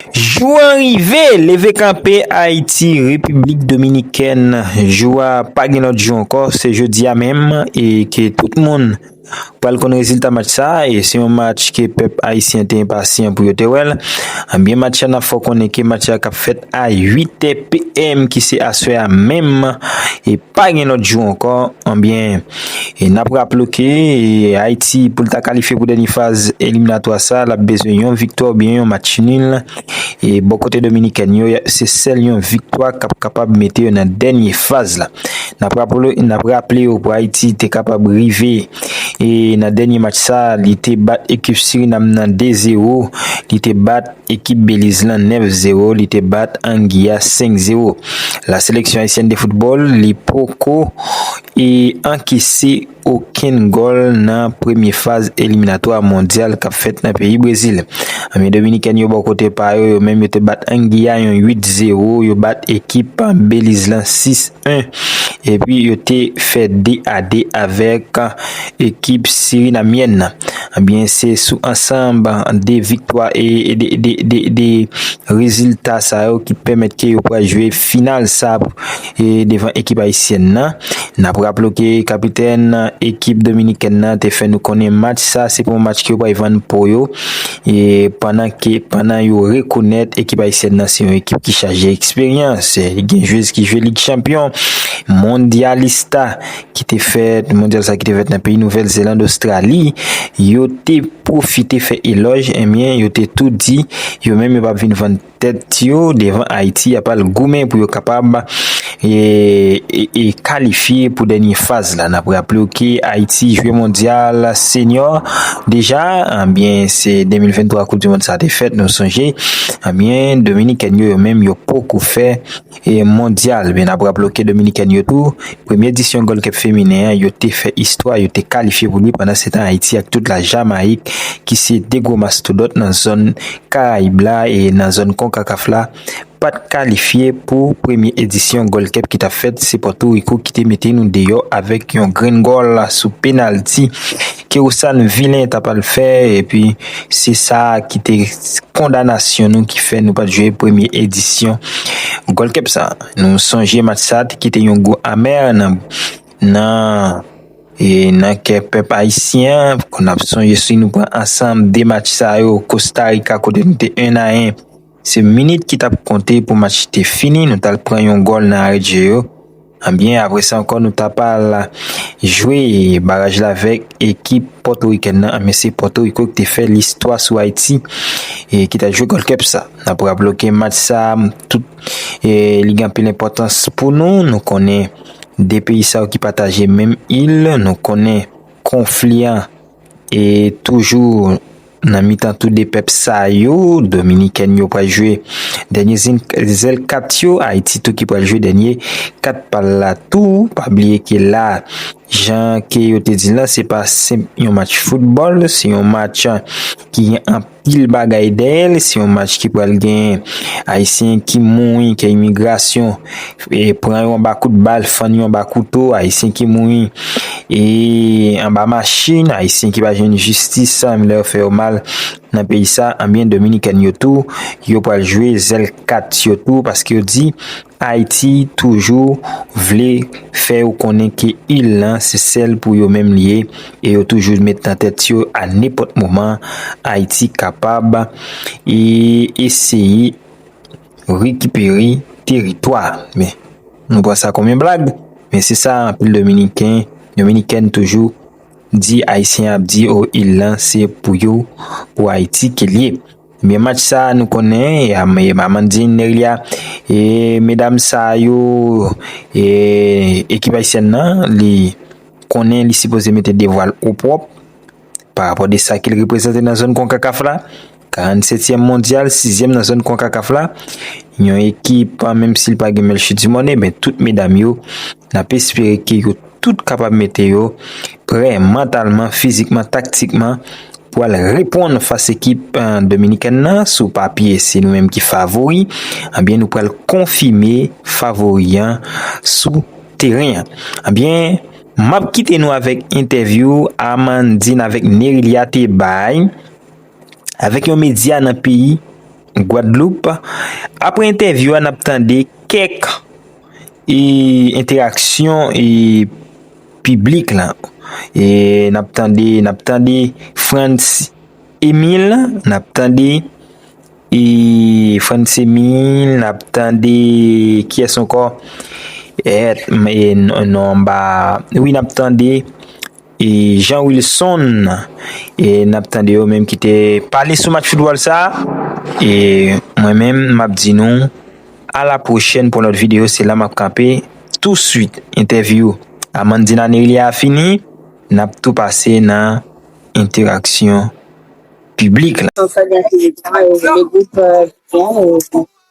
Jou an rive! Leve kanpe Ayiti, Repiblik Dominikèn! Jou a pa gen lòt jou ankò, se jodi a menm e ke tout moun pral konn rezilta match sa a e se yon match ke pèp ayisyen te enpasyan pou yo te wè l. Ebyen match a n ap fè w konnen ke match a k ap fèt a 8 è PM ki se aswè a menm e pa gen lòt jou ankò. Ebyen. E nap raple w ke Ayiti pou l ta kalifye pou dènye faz eliminatwa sa lap bezwen yon viktwa oubyen yon match nil e bò kote dominikèn yo se sèl yon viktwa kap kapab mete yo nan dènye faz la nap raple w pou Ayiti te kapab rive e nan dènye match sa li te bat ekip Surinam nan 2 zero li te bat ekip Beliz lan 9 zero li te bat Angiya 5 zero la seleksyon ayisyèn de foutbòl li poko e ankese okenn gòl nan premye faz eliminatwa mondyal kap fèt nan peyi Brezil. Anmi Dominikèn yo bò kote pa yo, yo menm yo te bat Angiy a yon 8 zero, yo bat ekip Beliz lan 6 1 epi yo te fè 2 a 2 avèk ekip Sirinamyèn nan. Ebyen se sou ansanb 2 viktwa e 2 rezilta sa yo ki pèmèt ke yo pral jwe final sa. E devan ekip ayisyèn nan, n ap raple w ke kapitèn ekip dominikèn nan te fè nou konnen match sa se pa yon match ke yo pral vann po yo e pandan ke pandan yo rekonèt ekip ayisyèn nan se yon ekip ki chaje eksperyans, gen jwez ki jwe lig chanpyon, mondyalista ki te fèt mondyal sa ki te fèt nan peyi Nouvèl Zeland, Ostrali, yo te pwofite fè elòj, enben yo te tou di yo menm yo pa p vin vann. tèt yo devan Ayiti ap al goumen pou yo kapab e kalifye pou dènye faz la. N ap raple w ke Ayiti jwe mondyal senyò deja, ebyen se 2023 koup di mond sa te fèt nou sonje, ebyen dominikèn yo yo menm yo poko fè Mondyal, men n ap raple w ke Dominikèn yo tou, premye edisyon Gold Cup feminen an, yo te fè istwa, yo te kalifye pou li, pandansetan Ayiti ak tout la Jamayik ki se 2 gwo mastodont nan zòn Karayib la e nan zòn Concacaf la, pa t kalifye pou premye edisyon Gold Cup ki t ap fèt, se Pòtoriko ki te mete nou deyò avèk yon grenn gòl sou penalti. ke ou sa n vilen ta pral fè epi se sa ki te kondanasyon nou ki fè nou pat jwe premye edisyon Gold Cup sa. Nou sonje match sa te kite yon gou amè nan nan kè pèp ayisyen an, nap sonje si nou pran ansanm 2 match sa yo Costa Rica kote nou te 1 a 1. Se minit ki tap konte pou match te fini, nou tal pran yon gòl nan arè dje yo, anbyen apre sa ankò nou tap al jwe baraj la avèk ekip pòtorikèn nan, anbyen se pòtoriko ki te fè listwa sou Ayiti e ki ta jwe gold cup sa. Nap raple w ke match sa tout li gen anpil enpòtans pou nou, nou konnen 2 peyi sa yo ki pataje menm il, nou konnen konfli an. E toujou nan mitan tou 2 pèp sa yo, Dominikèn yo pral jwe dènye zèl kat yo, Ayiti tou ki pral jwe dènye kat pa l la tou. Pa bliye ke la, jan ke yo te di l la, se pa senp yon match foutbòl, se yon match ki gen anpil. Pil bagay dèyè l, se yon match ki pral gen ayisyen ki mouri, kè imigrasyon e pran yo anba kout bal, fann yo anba kouto, ayisyen ki mouri e anba machin, ayisyen ki pa jwenn jistis sa menm lè yo fè yo mal nan peyi sa, anbyen dominikèn yo tou yo pral jwe zèl kat yo tou paske yo di Ayiti toujou vle fè ou konnen ke il lan se sèl pou yo menm li ye e yo toujou met nan tèt yo a nenpòt moman Ayiti kapab eseye rekipere teritwa men nou pran sa kòm yon blag men se sa anpil dominiken, dominikèn toujou di ayisyen ap di o il lan se pou yo pou Ayiti ke li ye. Ebyen match sa nou konnen e Amandine Neria e medam sa yo e ekip ayisyèn nan li konnen li sipoze mete devwal o pwòp pa rapò de sa ke li reprezante nan zòn konkakaf la 47 tièm mondyal 6 zièm nan zòn konkakaf la yon ekip menm si li pa gen Melchie Dumornay men tout medam yo nap espere ke yo tout kapab mete yo prè mantalman, fizikman, taktikman pou al reponn fas ekip Dominikèn nan. Sou papye se nou menm ki favori, anbyen nou pral konfime favori an sou teren an. Anbyen, m ap kite nou avèk entèvyou Amandine avèk Nérilia te bay avèk yon medya nan peyi Gwadloup. Aprè entèvyou an n ap tande kèk. E enteraksyon e piblik lan. E nap tande, nap tande Frantz Emile, nap tande e Frantz Emile, nap tande kiyès ankò? Èt, me non anba, wi nap tande. E Jean Wilson e n ap tande yo menm ki te pale sou match foutbòl sa e mwen menm m ap di nou a la pwochèn pou yon lòt videyo se la m ap kanpe tou suit entèvyou Amandina Nerylia a fini n ap tou pase nan enteraksyon piblik la.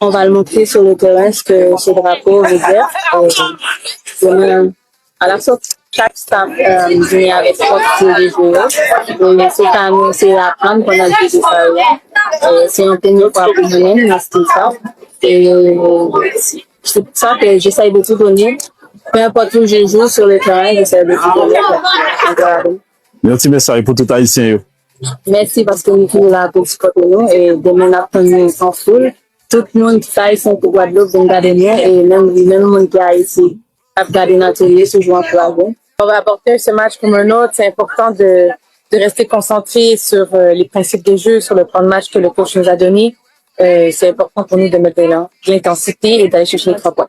On va le montrer sur le terrain ce que ce drapeau veut dire et demain à la sortie chaque staff vient avec propre jeu de jeu yo et se pa nou se apprendre pou nal jwe jeu sa yo et se yon premye fwa pou mwen menm nan stil sa et se pou sa ke j'essaye de tout donner peu importe où je joue sur le terrain j'essaye de tout donner. Yon ti mesaj pou tout ayisyen yo. Mèsi paske nou toujou la pou sipòte nou e demen ap tann nou an foul. Tout moun ki pa ayisyen ki Guadeloupe vin gade nou e menm li menm moun ki Ayiti ap gade nan tele toujou ankouraje. Bon rapporteur, ce match comme un autre, c'est important de, de rester concentré sur euh, les principes de jeu, sur le plan de match que le coach nous a donné. Euh, c'est important pour nous de mettre de l'in- de l'intensité et d'aller chercher les trois points.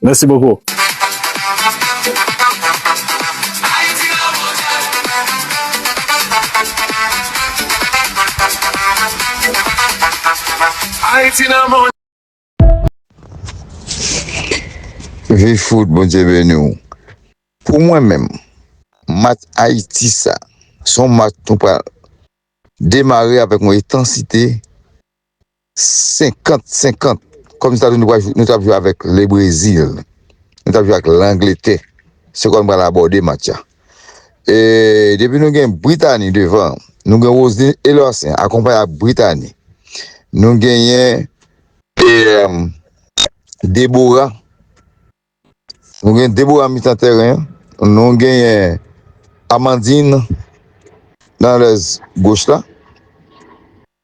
Mèsi bokou. Viv foot bondye beniw. Pou mwen menm match Haïti sa son match nou pral demare avèk yon etansite. 50, 50, kòm si ta di nou tap jwe avèk Le Brezil, nou tap jwe ak Langletè, se kòm pral abòde match la. E depi nou gen Britani devan, nou gen Roselyn Elersen akonpaye ak Britani. Nou genyen Debora, nou gen Debora mitan tèren, nou genyen Amandine nan lèz goch la.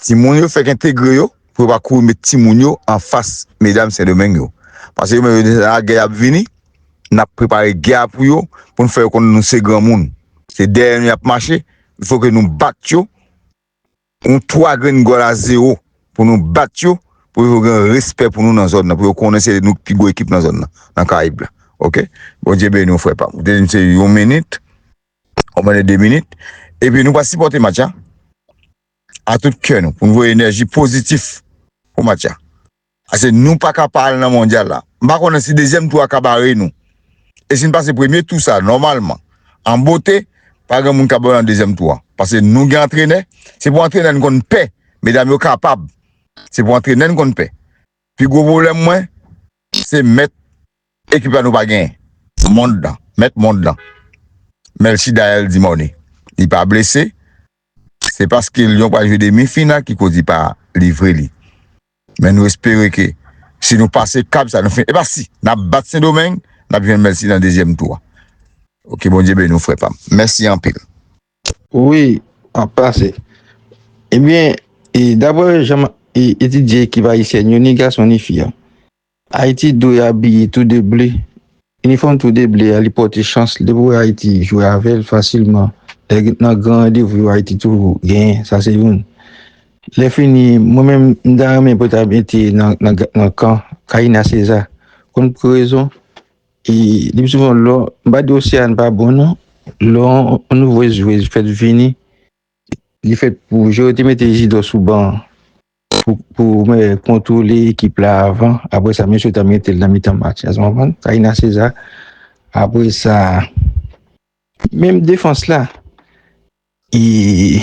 Timoun yo fèk entegre yo pou yo pa kouri met timoun yo anfas medam Sendomeng yo. Pase yo menm yo deja lagè y ap vini, n ap prepare gè a pou yo pou n fè yo konnen nou se granmoun. Se dèyè nou y ap mache, il fo ke nou bat yo yon 3 grenn gòl a zewo pou nou bat yo pou yo gen respè pou nou nan zòn nan, pou yo konnen se nou ki pi gwo ekip nan zòn nan, nan Karayib la. Ok. Bondye beni w frè pa m. Ou te di m se yon minit. Ou mande 2 minit. Epi nou pral sipòte match la a tout kè nou pou nou voye enèji pozitif pou match la. Pase nou pa ka pa al nan mondyal la. M pa konnen si dezyèm tou a ka bare nou. E si n pase premye tou sa nòmalman an bote, pa gen moun k ap ba yo nan dezyèm tou a. Pase nou gen antrenè, se pou antrenè n konn pè. Medam yo kapab. Se pou antrenè n konn pè. Pi gwo pwoblèm mwen, se mèt Ekip la nou pa gen mond lan mèt mond lan Melchie Daëlle Dimornay li pa blese se paske Lyon pral jwe demi final ki koz li pa livre li men nou espere ke si nou pase kap sa nou fè epa si nap bat sendomeng nap jwenn Melchie nan dezyèm tou a ok Bondye beni w frè pam mèsi anpil. Wi ap pase. Ebyen e daprè janm etidye ekip ayisyèn yo ni gason ni fi an Ayiti dwe abiye tou de ble. Inifòm tou de ble a li pòte chans li. Depi w wè Ayiti jwe avè l fasilman. Lè gen nan gran randevou yo Ayiti toujou genyen. Sa se youn. Lè fini, mwen menm m ta renmen pou ta mete nan kan Karina César. Konn pou ki rezon? E li pi souvan lò, m pa di Oceane pa bon non. Lò yon nouvo jwez fèt vini, li fèt pou jwe. Yo te mete Jidò sou ban an. pou kontwole ekip la avan, apre sa mesye ta mete l nan mitan match la, ou konprann? Taina Cesar, apre sa menm defans la e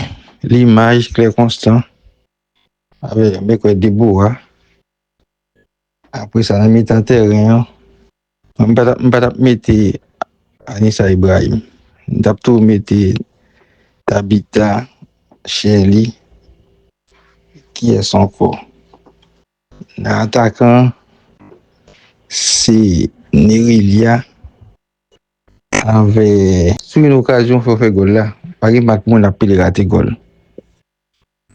Limage, Claire Constant avè mwen kwè Deboa apre sa nan mitan tèren an Mwen pa tap mwen pa tap mete Anisa Ibrahim mwen tap tou mete Tabita Shelly kiyès ankò nan atakan se Nerilia avè sou yon okazyon fè w fè gòl la pa gen mak moun ap pile rate gòl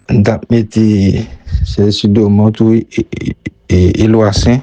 mwen tap mete Chelsea Domon tou e Eloy Saint.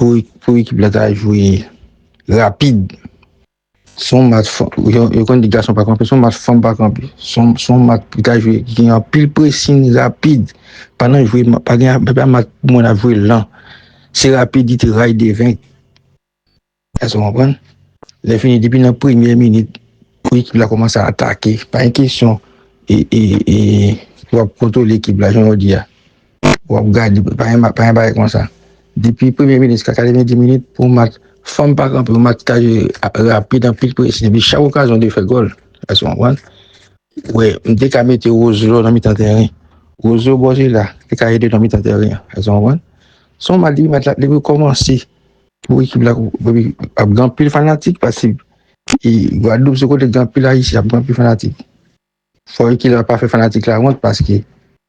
Pou ekip la ta jwe rapid, son mat fanm pa kanpe, son mat pou ta jwe gen yon pil presin rapid, pa nan jwe, pa gen yon mat pou mwen ap jwe lan, se rapidite ray de venk. Èske nou konprann? Lèfini, depi nan premyè minit pou ekip la kòmanse a atake, pa gen kesyon pou ap kontwole ekip la jan ou di a, pou ap gade, pa gen bagay konsa. Depi premye minit jiska 90 minit pou yon match fèm pa kanpe, yon match ki ka jwe rapid anpil presi epi chak okazyon ou dwe fè gòl. Èske nou konprann? Ou wè, m te ka mete Roselò nan mitan tèren. Roselò bò jwe la te ka ede nan mitan tèren an. Èske nou konprann? Se yon match depi match la, depi l kòmanse, Pou ekip la ap gen anpil fanatik paske Gwadloup se kote gen anpil Ayisyen, ap gen anpil fanatik. Fò ekip la pa fè fanatik la wont paske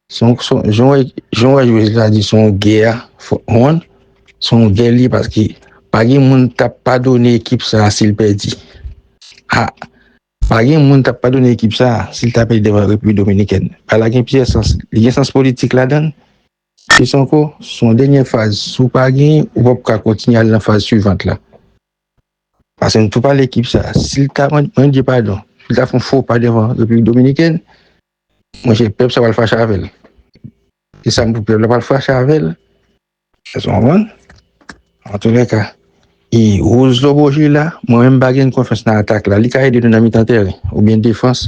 son jan wè jwez la di son gè a wont, son gè li paske pa gen moun k ap padone ekip sa si l pèdi. A, pa gen moun k ap padone ekip sa si l ta pèdi devan Repiblik Dominikèn. Pale la gen plizyè sans, li gen sans politik ladan l, Kis ankò? Se yon dènyè faz. Si w pa genyen, ou pap ka kontinye al nan faz suivant la. Pase nou tou pale ekip sa. Si l ta mande padon, si l ta fè yon fo pa devan Repiblik Dominikèn, monchè pèp sa pral fache avè l. Se sa m di w, pèp la pral fache avè l. Èske w konprann? An tou lè ka, e Rose Lobo Gila, mwen menm m pa genyen konfyans nan atak la. Li ka ede nou nan mitan tèren oubyen defans.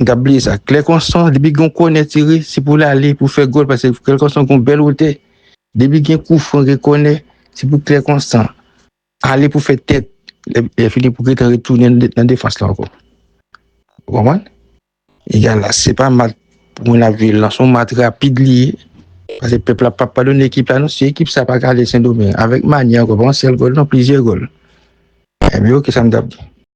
M tap bliye sa klè konson depi gon kònè tire se pou l ale pou fè gòl pase klè konson gon bèl wotè depi gen kou fran gen kònè se pou klè konsan ale pou fè tèt lè fini pou getan retounen nan defans la ankò ou konprann egal la se pa mat pou moun ap viv lan son mat rapid li ye pase pèp la pap padone ekip la non si ekip sa pa ka ale sendomeng avèk manyè ankò pa yon sèl gòl non plizyè gòl epi ok sa m tap di.